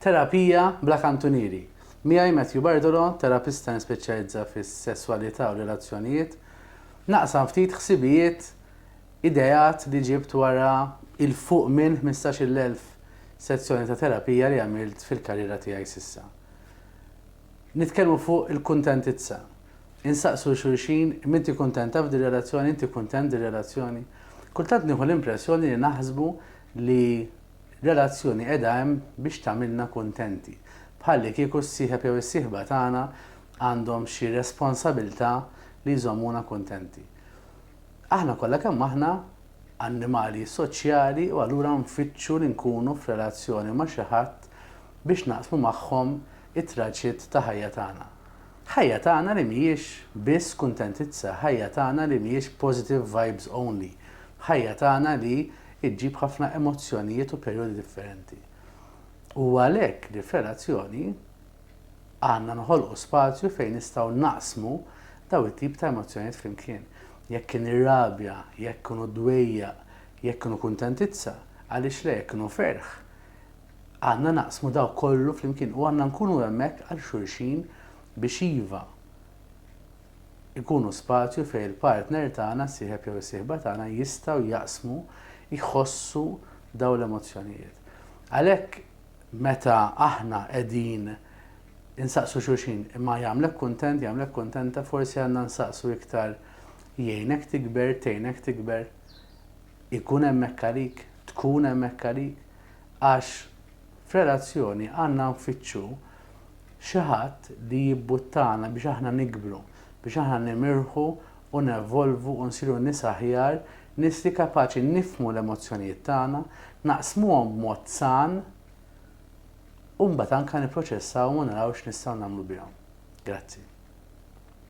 Terapija bla kantunieri. Miegħi Matthew Bardolo, terapista nispeċjalizza fis-sesswalità u r-relazzjonijiet, naqsam ftit ħsibijiet, ideat li ġibt wara 'il fuq minn ħmistax-il elf sezzjoni ta' terapija li għamilt fil-karriera tiegħi s'issa. Nitkellmu fuq il-kuntentizza. Insaqsu 'l xulxin, m'inti kuntenta f'dir-relazzjoni, inti kuntent f'dir-relazzjoni? Kultant nieħu l-impressjoni li naħsbu li Relazzjoni qiegħda hemm biex tagħmilna kuntenti. Bħallikieku s-sieħeb jew is-sieħba tagħna għandhom xi responsabilità li jżommuna kuntenti. Aħna kollha kemm aħna annimali soċjali u allura nfittxu li nkunu f'relazzjoni ma' xi ħadd biex naqsmu magħhom it-traġit ta' ħajja tagħna. Ħajja tagħna li mhijiex biss kuntentizza, ħajja tagħna li mhijiex positive vibes only, ħajja tagħna li ġġib ħafna emozzjonijiet u perjodi differenti. U għalhekk li f'relazzjoni għandna noħolqu spazju fejn nistgħu naqsmu dawn it-tip ta' emozzjonijiet flimkien. Jekk kien ir-rabja, jekk kienu d-dwejjaq, jekk kienu kuntentizza, għaliex le jekk kienu ferħ, Għandna naqsmu dawk kollu flimkien u għandna nkunu hemmhekk għal xulxin biex iva, ikunu spazju fejn il-partner tagħna, is-sieħeb jew is-sieħba tagħna jistgħu jaqsmu, jħossu dawn l-emozzjonijiet. Għalhekk meta aħna qegħdin insaqsu xulxin imma jagħmlek kuntent, jagħmlek kuntenta, forsi għandna nsaqsu iktar jgħinek tikber, tgħinek tikber, ikun hemmhekk għalik, tkun hemmhekk għalik, Għax f'relazzjoni għandna nfittxu xi ħadd li jibbuttana biex aħna nikbru, biex aħna nimirħu u nevolvu u nsiru nies aħjar, nies li kapaċi nifhmu l-emozzjonijiet tagħna, naqsmuhom b'mod san u mbagħad anke nipproċessawhom u naraw x'nistgħu nagħmlu bihom. Grazzi.